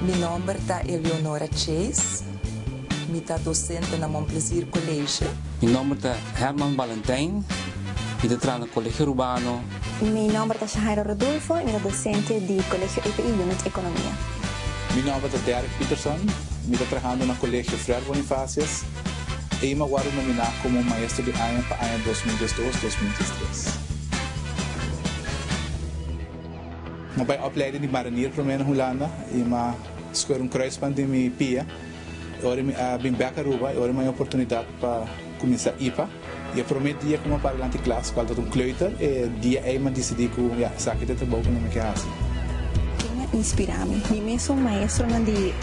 Mi nomber ta Eleonora Chase. Mi ta dosente na Mon Plaisir College. Mi nomber ta Herman Balentijn. Mi ta traha na Colegio Rubano. Mi nomber ta Shahaira Rodulfo. Mi ta dosente di Colegio EPI Unit Economia. Mi nomber ta Derrick Peterson. Mi ta trahando na Colegio Fred Bonifacius. Ey mi a worde nomina como Maestro di Aña pa aña dos mil diesdos, dos mil diestres. M'a bai opleiding di marinier promé na Hulanda i m'a scoher un kruisband den mi pia. E ora mi a bin bek Aruba, e ora mi a haña oportunidat pa kuminsá ipa. I e promé dia ku mi a para dilanti klas, kual tabata un kleuter, e dia ei mi a disidí ku ya, esaki ta e trabou ku mi mi ke hasi. Ken a inspirá mi? Mi mesun maestronan di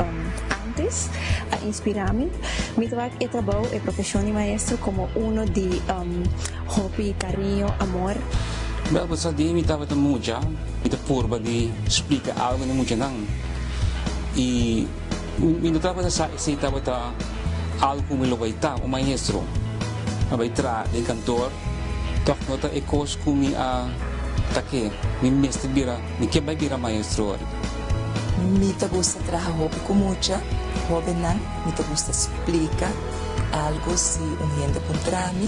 ántes a inspirá mi. Mi ta wak e trabou, e profeshon di maestro, komo uno di. Hopi kariño, amor. Bel bo sa di mi tabata mucha, mi ta purba di splika algu na muchanan i mi no tabata sa esei tabata algu ku mi lo bai ta un maestro. Mi a bai traha den kantor, tòg no ta e kos ku mi a ta ke mi mester bira, mi ke bai bira maestro wòrdu. Mi ta gusta traha hopi ku mucha hòbennan, mi ta gusta splika algu si un hende puntra mi.